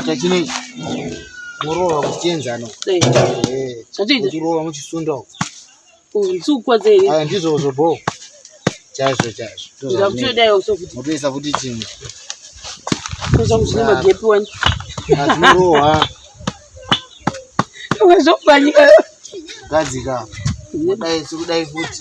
chakata chinei morova kuchenzana zvatirova muchisunda nzukwa dzei ndizvozvo bho chaizvo chaizvomotoisa futi chimwe azvinorohwa gadzika kudai sikudai futi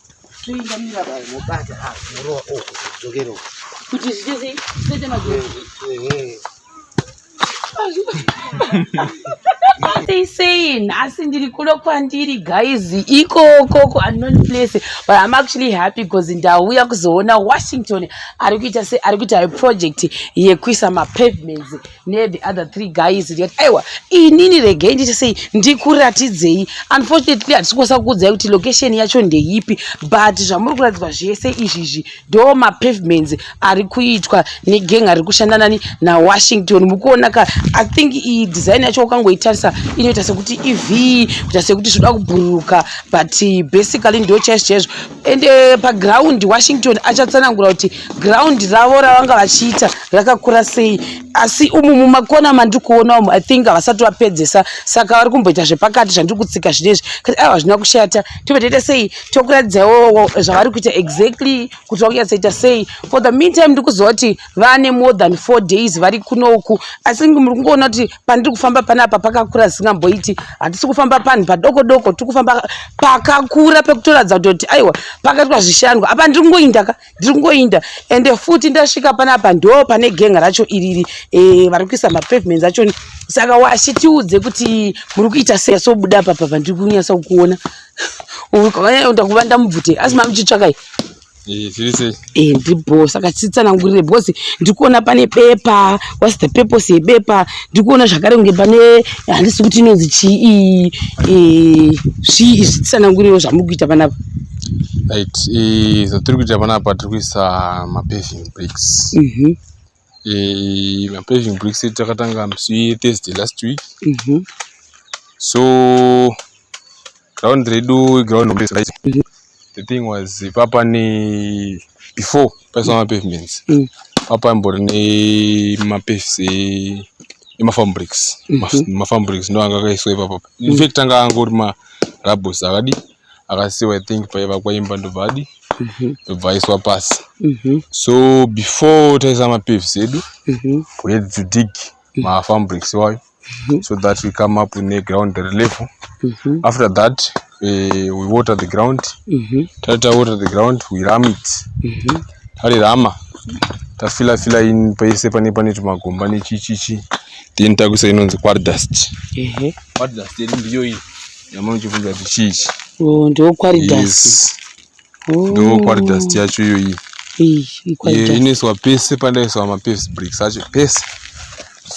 toenda mira bai mobata ah murova oh dzokero kuti zviite sei zviite magero they saying asi ndiri kuno kwandiri guys ikokoko unknown place but i'm actually happy because ndauya kuzoona washington ari kuita se ari kuita project yekuisa mapavements nethe other three guys ndikati aiwa inini regei nditi sei ndikuratidzei unfortunately hatisi kukwasa kukuudzai kuti location yacho ndeipi but zvamuri kuratidzwa zvese izvizvi ndo mapavements ari kuitwa negeng ari kushanda nani nawashington mukuona ka i think iyi design yacho ukangoitarisa inoita sekuti iv kuita sekuti zvoda kubhururuka but basically ndo chaizvo chaizvo and uh, paground washington achatsanangura kuti ground ravo ravanga vachiita rakakura sei asi umu mumakona mandiri kuona umu i think havasati vapedzesa saka vari kumboita zvepakati zvandiri kutsika zvinezvi kati aiwa hazvina kushata tobva taita sei tokuratidzawo zvavari kuita exactly kuti vakunyatsoita sei for the meantime ndiri kuziva kuti vane more than four days vari kunoku asi muri kungoona kuti pandiri kufamba panapa pakakura zisingamboiti hatisi kufamba panhu padoko doko tiri kufamba pakakura pekutoratidza kutoti aiwa pakaitwa zvishandwa apa ndiri kungoindaka ndiri kungoinda ende futi ndasvika panapa ndo pane genga racho iriri e, vari kuisa mapavements acho saka washi tiudze kuti muri kuita sei sobuda papa pandiri kunyasa kukuona ndakuvanda mubvute asi mamuchitsvakai Eh, eh, ndibho saka titsanangurire because ndikuona pane bepa whats the purpose yebepa ndikuona zvakare kunge pane handisi kuti inonzi chii eh, zvii izvi titsanangurirewo zvamuri kuita panapa right zvatiri kuita panapa tiri kuisa mapaving bricks mhm. eh, mapaving bricks edu takatanga musi wethursday last week mm -hmm. so ground redu iground hombe right mm -hmm. the thing was papa ne before paiswa mm -hmm. mapavements mm -hmm. papa imbori nemapaves e emafarm bricks mm -hmm. mafarm bricks ndo anga akaiswa ipapa mm -hmm. infact anga angori marabos akadi akasiwa i think paivakwa imba ndobva adi mhm. ndobva aiswa pasi mhm. so before taisa mapavs edu mhm. we had to dig mafarm bricks iwayo so that we come up neground relevel after that eh, we water the ground tati tawater the ground we ram it tarirama tafila fila in paise pane pane tumagomba nechichichi then takuisa inonzi quardust quardust iri ndiyo iyi Nyama uchibvunza kuti chii ichi? Oh, ndiwo quarry dust. Yes. Oh. Ndiwo quarry dust yacho iyoyi. Iyi quarry dust. Inoiswa pese pandaiswa mapaved bricks acho pese.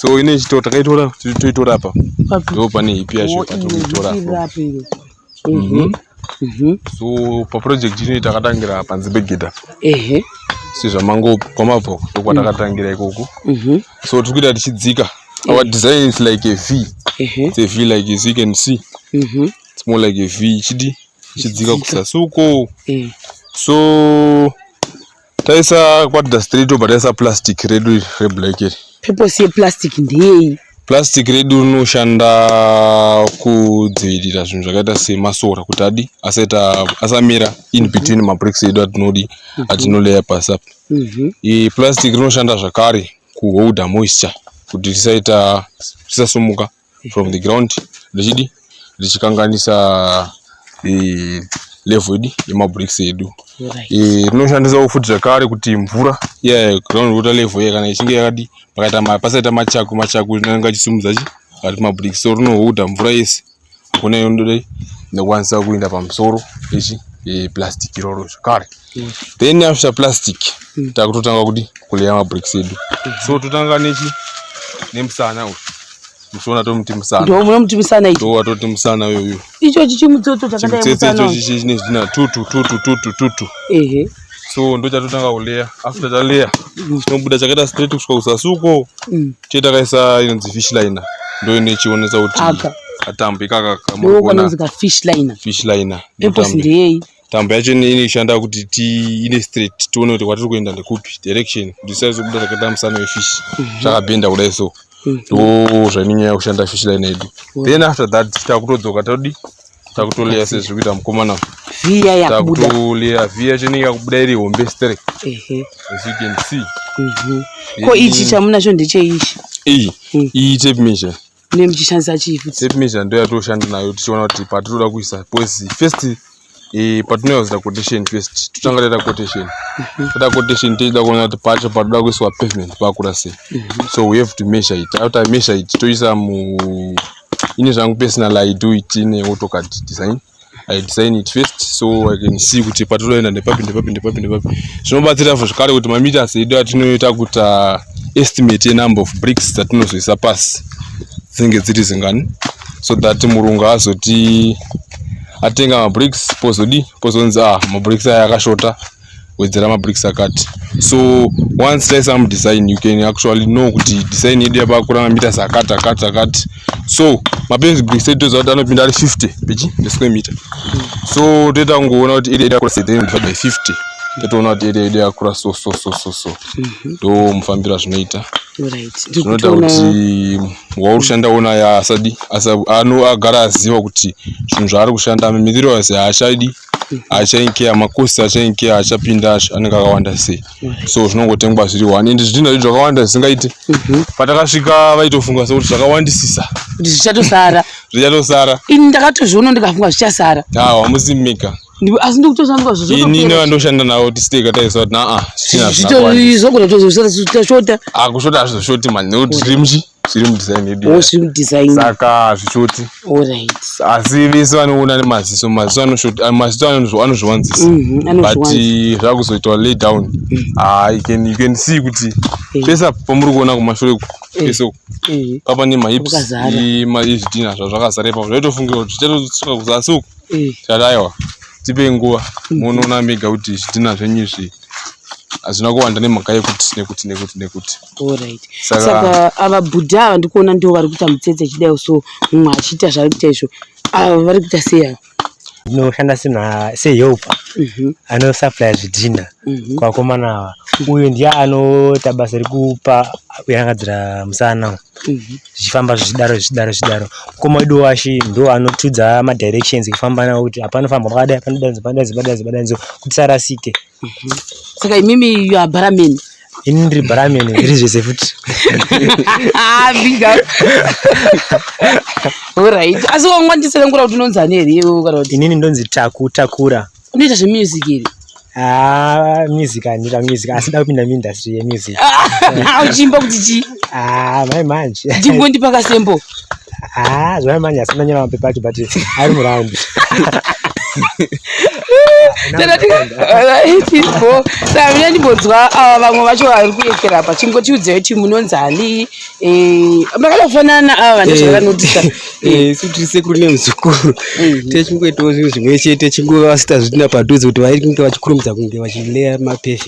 So ine chito takaitora toitora apa. Ndipo pane hip yacho patinoitora apa. Mhm. Mhm. So pa project ino takatangira panze pegedha. Ehe. Sezvamango kwamabva ndokwatakatangira ikoko. Mhm. So tiri kuita tichidzika. Mm -hmm. Our design is like a V. Uh -huh. It's a V like as you can see. Uh mm-hmm. -huh. It's more like a V chidi chidzika kusasi uko. Uh eh. -huh. So taisa kwatida straight over taisa plastic redu reblack iri. Purpose yeplastic ndeyei? plastic redu rinoshanda kudzivirira zvinhu zvakaita semasora kuti adi asamira in mhm. between mabricks edu atinodi mhm. atinoleya pasi apa mhm. plastic rinoshanda zvakare kuholder moisture kuti risaita risasumuka from the ground richidi richikanganisa eh, level idi yemabricks edu Right. Eh, rinoshandisawo futi zvakare kuti mvura iya ground water level iya kana ichinge yakadi pakaita ma- pasaita machaku machaku inenge achisumudza chi ari mabricks so rinoholder mvura yese kune yondore ndokwanisa kuenda pamusoro ichi e, plastic iroro zvekare mm. then after plastic mm. takutotanga kudi kuleya mabricks edu mm. so totanga nechi nemusana uyu muchiona tomuti musana ndo munomuti musana ichi ndo watoti musana yoyo icho chichimutsotso chakadai musana icho chichi chine zvidina tutu tutu tutu tutu ehe so ndo chatotanga kuleya after taleya chinobuda chakaita straight kusvika kusasuko mm. chee takaisa inonzi fish liner ndo ine chionesa kuti katambo ikaka kamuonafish liner tambo yacho inoshanda kuti tiine straight tione kuti kwatiri kuenda ndekupi direction kuti saizobuda takaita musana wefish zvakabhenda mhm. kudai so mm. ndo zvainonyaya kushanda fish liner yedu then after that takutodzoka todi takutoleya sezviri kuita mukomana viya yakubuda takutoleya viya chenenge yakubuda iri hombe straight ehe as you can see Mhm. ko ichi chamunacho ndecheichi iyi Mm. iyi tape measure ne muchishandisa chii futi tape measure ndo yatoshanda nayo tichiona kuti patinoda kuisa because first eh, patinoyazira quotation first totanga taita quotation taita quotation tichida kuona kuti pacho patoda kuiswa pavement pakura sei so we have to measure it after I measure it toisa mu ini zvangu personal i do it in autocad design i design it first so i can see kuti patinoenda ndepapi ndepapi ndepapi ndepapi zvinobatsira fo zvekare kuti mameters edu atinoita kuti uh, estimate yenumber of bricks dzatinozoisa pasi dzinenge dziri zingani so that murungu azoti atenga mabricks pozodi pozonzi ah mabricks aya akashota wedzera mabricks akati so once taisa some design you can actually know kuti design yedu yapakura mameters akati akati akati so mapenzi bricks edu toziva kuti anopinda ari 50 pechi nesquare meter so toita kungoona kuti area yakura 7.5 by 50 totoona kuti area yedu yakura so so so so so mhm. ndo mufambiro azvinoita zvinoita kuti wauri kushanda ona asadi agara aziva kuti zvinhu zvaari kushanda mithirowise haachadi achainkeya makosi achainkeya achapinda acho anenge akawanda sei so zvinongotengwa zviri one and zvidhina zvedu zvakawanda zvisingaite mhm. patakasvika vaitofunga sekuti zvakawandisisa kuti zvichatosara zvichatosara ini ndakatozviona ndikafunga zvichasara awa musi mika asi ndikutoshandwa zvoini nevandoshanda navo tisiteka taisa kuti naa zvichina zvakawandisisa zvogona tozosara tashota akushota ah, hazvizoshoti mani nekuti tiri muchii Slim design yedu. Oh, slim design. Saka zvichoti. All right. Asi vese vanoona nemaziso, maziso anoshoti, ah, maziso anozviwanzisa. Mhm, But eh, zvakuzoitwa lay down. Mhm. Ah, you can you can see kuti eh. pesa pamuri kuona kumashure eh. pese papa ne mahips izvidhina zvazvakazara ipapo zvaitofungira kuti tichatosuka kuzasi uku tikati aiwa tipe nguva mhm. munoona mega kuti zvidhina zvenyu izvi hazvina kuwanda nemhaka yekuti nekuti nekuti nekuti Alright. Saka- Saka ava bhudha ava ndikuona ndivo vari kuita mutsetse chidai so mumwe achiita zvaari kuita izvo ava vari kuita sei ava ndinoshanda sema sehelper Mhm, anosupply zvidhina mhm. kwakomana ava uyu ndiye anoita basa rekupa kuyangadzira musana uyu. Mhm. zvichifamba zvichidaro zvichidaro zvichidaro mukoma wedu washi ndo anotudza madirections ekufamba nawo kuti apa anofamba pakadai panodanzi panodanzi panodanzi panodanzi kuti sarasike saka imimi you are bara men ini ndiri bharamene ndiri zvese futi ah, orit asi wangwandiserengura kuti unonzi ani here iwe kana kuti inini ndonzi taku takura unoita zvemusic here Ah, music handira music asi da kupinda muindustry yemusic ah, uchimba kuti chii ah, mai manje ndingondipa kasembo Ah, zvaya manya asina nyama mapepa acho but ari muround. Tamina ndimbonzwa ava vamwe vacho vari kuyekera apa chingotiudzeyo ti munonzi ani eh, makada kufanana ava vane eh, zvavanotisa eh, isu tiri sekuru nemuzukuru mhm. techingoitawo zvinhu zvimwe chete chingova vasita zvitina padhuze kuti vainge vachikurumidza kunge vachileya mapefi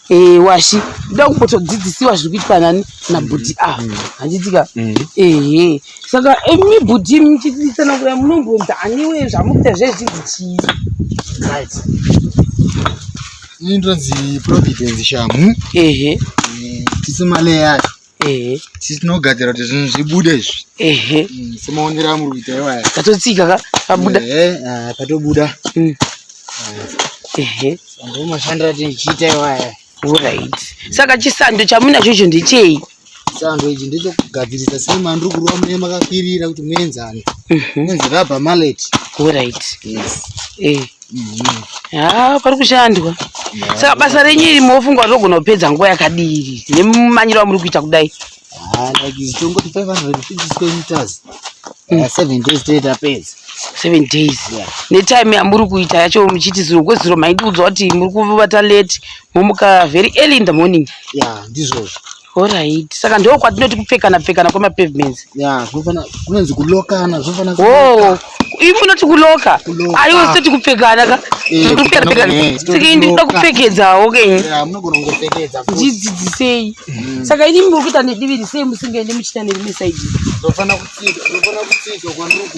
Eh, washi ndoda kumbotodzidzisiwa zviri kuitwa nani nabhudhi mm. ava ah, handitika mm. mm. ehe saka imi eh, bhudhi muchitiisana kuya munombonza aniwe zvamukuita zvezvinzi chii right ini ndonzi providence shamu ehe tisimale yacho ehe sisi tinogadzira kuti zvinhu zvibude izvi ehe mm, semaonero amuri kuita iwaya tatotsika ka pabuda ehe ah, patobuda mm. ehe ndio mashandira tichiita iwaya right saka chisando chamunacho icho ndechei sando ichi ndechokugadzirisa sei mandiri kurova mune makakwirira kuti muenzane mhm. muenzerabha maleti orit yes eh. haa pari kushandwa saka basa renyu iri mofunga kuti ogona kupedza nguva yakadii iri nemumanyiro amuri kuita kudai haa like tongoti 550 meters uh, seven days tee tapedza seven days netime yamuri kuita yacho muchiti zuro kwezuro maidi udzwa kuti muri kuvata late momuka very early in the morning ya ndizvozvo Alright. Saka ndoo kwatinoti kupfekana pfekana kwema pavements. Yeah, kunofana kunonzi kulokana, zvinofana kuloka. Oh. Ivi unoti kuloka. Aiwa sati kupfekana ka. Eh, kupfekana pfekana. Eh, Saka ini ndinoda kupfekedzawo ke. Yeah, munogona kupfekedza. Dzidzisei. Mm. Saka ini muri kuita nediviri sei musingaende muchita nerime side. Ndofana kutsika, ndofana kutsika kwanuku.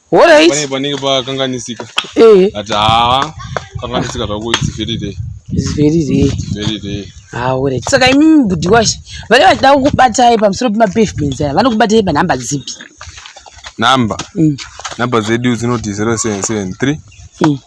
Alright. Pane panenge pakanganisika. Eh. Ati haa kanganisika zvako it's very day. It's very day. It's very day. Ah, alright. Saka imimi budi washe vane vachida kukubatai pamusoro pemapavements aya vanokubatai panhamba dzipi? Number. Mm. Number zedu dzinoti 0773. Mm.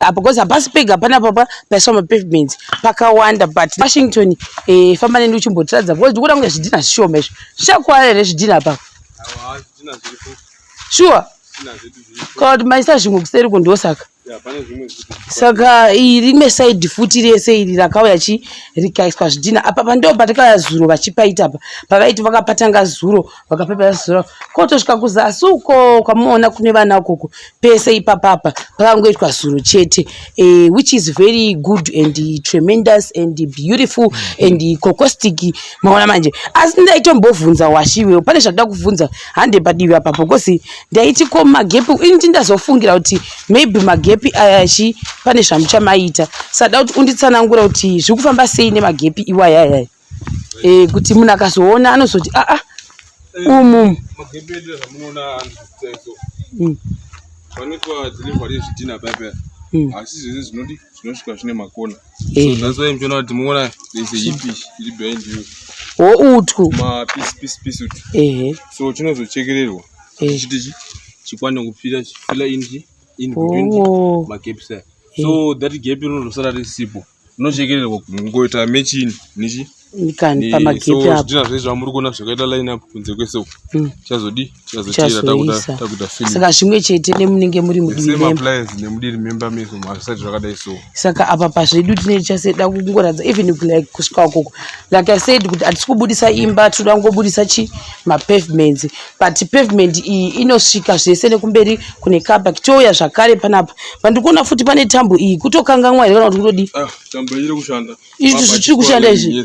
apo because hapasi pega pana papa paiswa mapavements pakawanda but washington eh, famba neni uchimbotiradza because ndikuda kunge zvidhina zvishoma izvo zvichakuwara here zvidhina apapo sure kana kuti maisa zvimwe kuseri ko ndosaka saka rimwe saidi futi rese iri rakauya chi rikaiswa zvidhina apa pandoo patakauya zuro vachipaita apa pavaiti vakapatanga zuro vakapepera zizora kotosvika kuzasi uko kwamuona kune vana ukoko pese ipapapa pakangoitwa zuro chete e, which is very good and tremendous and beautiful and cocostic maona manje asi ndaitombovhunza washiwe pane zvakuda kuvhunza hande padivi apapo bcause ndaiti ko magepi initi ndazofungira kuti maybe magepi aya chi pane zvamuchamaita sada kuti unditsanangura kuti zviri kufamba sei nemagepi iwayayaya eh, kuti munhu akazoona anozoti aa ah, ah, umu hmm. vanoitwa delivery yezvidhina paipa hmm. asi zvese zvinodi zvinosvika zvine makona eh. so that's why muchiona kuti muona there's a hipish iri behind you wo utwu mapiece piece piece utwu ehe so chinozochekererwa eh. chiti chi chikwane kupfira chifila inji in between oh. macaps so that gap rinozosara risipo Unochekererwa kungoita mechini nichi? Ndikani pamagate apo. So zvidhina zvezvo amuri kuona zvakaita line up kunze kwese uko. Mm. Chazodi? Chazochera takuda takuda film. Saka zvimwe chete nemunenge muri mudiri memba. Same appliance nemudiri memba meso mazvisati zvakadai so. Saka apa pazvedu tine chase da kungoradza even like kusvika ukoko. Like I said kuti atisi kubudisa imba tinoda kungobudisa chi ma pavements. but pavement iyi inosvika zvese nekumberi kune kabak touya zvakare panapa pandikuona futi pane tambo iyi kutokanganwa here kana kuti kutodii ah, tambo iri kushanda izvi zvichiri kushanda izvi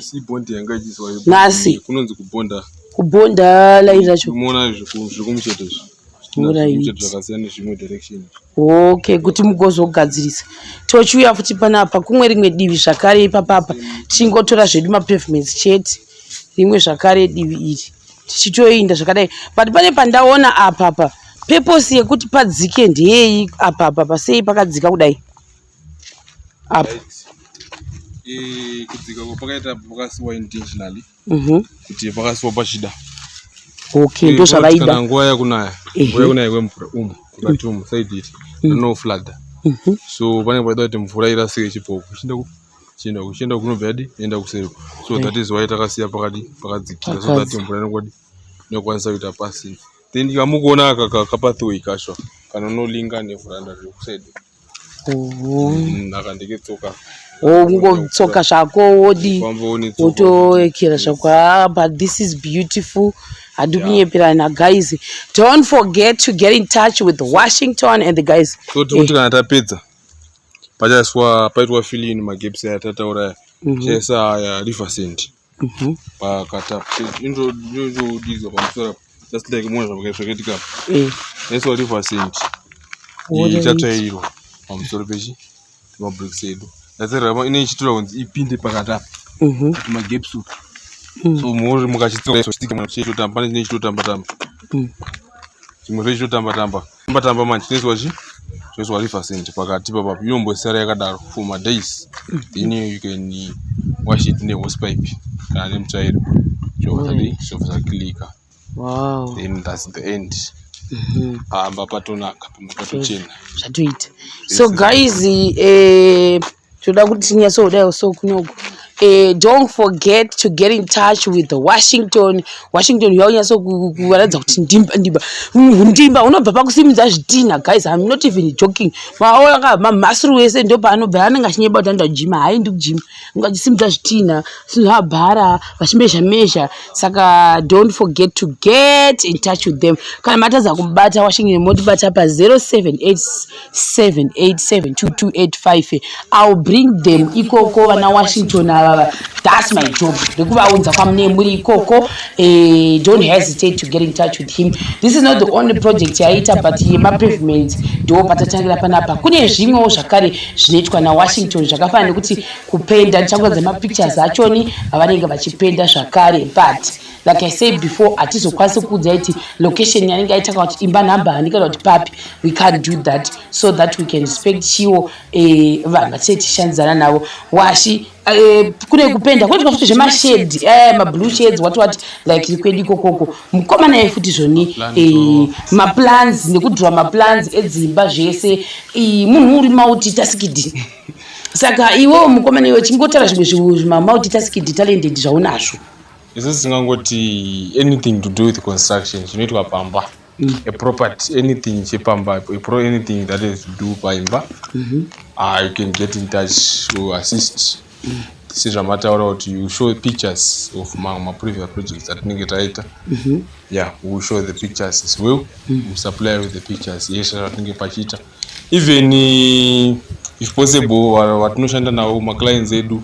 nhasi kunonzi kubonda kubonda lairi racho umoona zvekumucheto izvi okay kuti mugozogadzirisa tochiuya futi panapa kumwe rimwe divi zvakare ipapapa tichingotora zvedu mapavements chete rimwe zvakare divi iri tichitoinda zvakadai but pane pandaona apa apa purpose yekuti padzike ndeyeyi apa apa pasei pakadzika kudai apa e, kudzika ko pakaita pakasiwa intentionally mhm. kuti pakasiwa pachida okay ndo zvavaida nguva yakunaya nguva yakunaya kwemvura umu kukati umu saiditi mhm. rinoflada mhm. so panenge paida kuti mvura irasike chipopo chienda kuchienda kunobva yadi enda kuseri so that is why takasiya pakadi pakadzikira so that mvura inokwadi inokwanisa kuita pasi then kamukuona aka kapathway kasho kanonolinga nevhuranda riri kuside naka ndiketsoka kungotsoka zvako wodi wotoekera zvako ah, but this is beautiful hadi kunyeperana guys don't forget to get in touch with washington and the guys so tikuti kana tapedza pachaiswa paitwa filling magapes aya tataura aya mhm. chaisa aya river sand mhm. pakata inodizwa pamusoro just like mona zvakaitika eh. yaiswa river sand ichatsvairwa pamusoro pechi mabricks edu yatsvairwa ine ichitura kunzi ipinde pakata mhm. magaps upi mm. so mori mukachitsochitamba pane chine chitotamba tamba mm. chimwe zve chitotamba tamba tamba tamba manje tinezwa chi tinezwa river cent pakati papa inombosara yakadaro for ma days then you can wash it ne hose pipe kana ne mutsvairo zvovazadi zvovaza clicker wow then that's the end mhm. pamba patonaka pamba patochena zvatoita so guys eh tinoda kuti tinyatsoudai so kunoku Uh, don't forget to get in touch with washington washington uya unyatsokuvaratidza kuti ndimba ndimba ndimba unobva pakusimudza zvitinha guys im not even joking maoaka mamasuru wese ndo paanobva anenge achinyeba kuti anoda kujima haaendi kujima anga achisimudza zvitinha sinovabhara vachimezha mezha saka don't forget to get in touch with them kana matadza kubata washington motibata pa 078 7872285 ill bring them ikoko vana washington avava thats my job rekuvaunza kwamunee muri ikoko eh, don't hesitate to get in touch with him this is not the only project yaiita but yemapavement ndo patatangira panapa kune zvimwewo zvakare zvinoitwa nawashington zvakafanana nekuti kupenda ndichakuradza mapictures achoni avanenge vachipenda zvakare but like i said before hatizokwanisi kuudza iti location yanenge aita kana kuti imba number hani kana kuti papi we can't do that so that we can respect chiwo eh, vanhu vatisee tishandidzana navo washi eh, kune kupenda kune zvikafuti zvemashedi eh, mablue shades wati wati like iri kwedu ikokoko mukoma naye futi zvoni maplans nekudhura maplans edzimba zvese munhu uri mauti tasikidi saka iwewo mukoma naiwe chingotara zvimwe zvimamauti tasikidi talented zvaunazvo isu tisingangoti anything to do with construction chinoitwa pamba mm. a property anything chepamba pro anything that is to do paimba mm -hmm. uh, you can get in touch to assist mm. sezvamataura kuti you show pictures of mamwe maprevious projects atinenge taita mm -hmm. yeah we show the pictures as well mm. we supply with the pictures yeshe zvatinenge pachiita even uh, if possible vatinoshanda navo maclients edu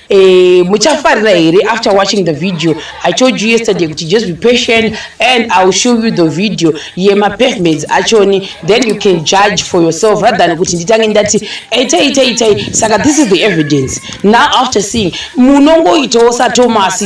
Eh, muchafarira here after watching the video i told you yesterday kuti just be patient and i will show you the video yemapavements achoni then you can judge for yourself rather than kuti nditange ndati itai itai itai saka this is the evidence now after seeing munongoitawo satomas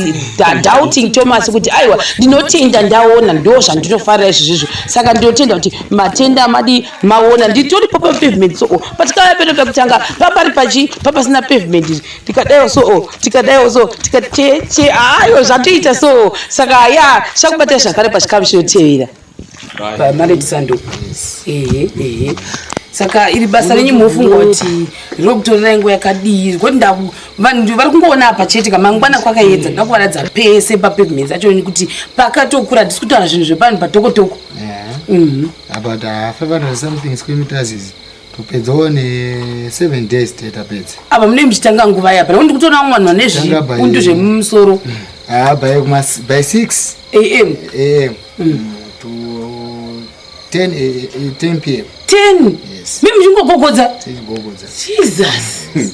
doubting thomas kuti aiwa ndinotenda ndaona ndo zvandinofarira izvi zvizvo saka ndinotenda kuti matenda madi maona nditori papa pavement soo but kava pedo pekutanga papari pachi papasina pavement izvi tikadaiwo soo tikadaiwo so tikateche ayo zvatoita soo saka ya chakubatai zvakare pachikamu chinotevera pamaretisando ehe ehe saka iri basa renyu mofunga kuti rinokutorera nguva yakadii zvekuti vanhu vari kungoona apa chete kamangwana kwakayedza ndakuvaradza pese papavement acho kuti pakatokura hatisi kutaura zvinhu zvepanhu patokotoko mhm. apa tafafanira something skwemutazizi topedzawo neseven days te tapedza apa munee muchitanga nguva yapa nekuti ndikutoona vamwe vanhu vane zvipundu zvemumusoro mm. haa ah, by six am am mm. mm, to ten eh, eh, pm ten mi muchingogogodza jesus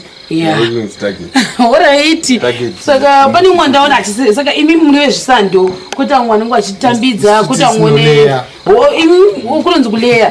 oraiti saka pane umwe ndaona achise saka imi muri vezvisando kuti amwe anenge achitambidza kuti amwe kunonzi kuleya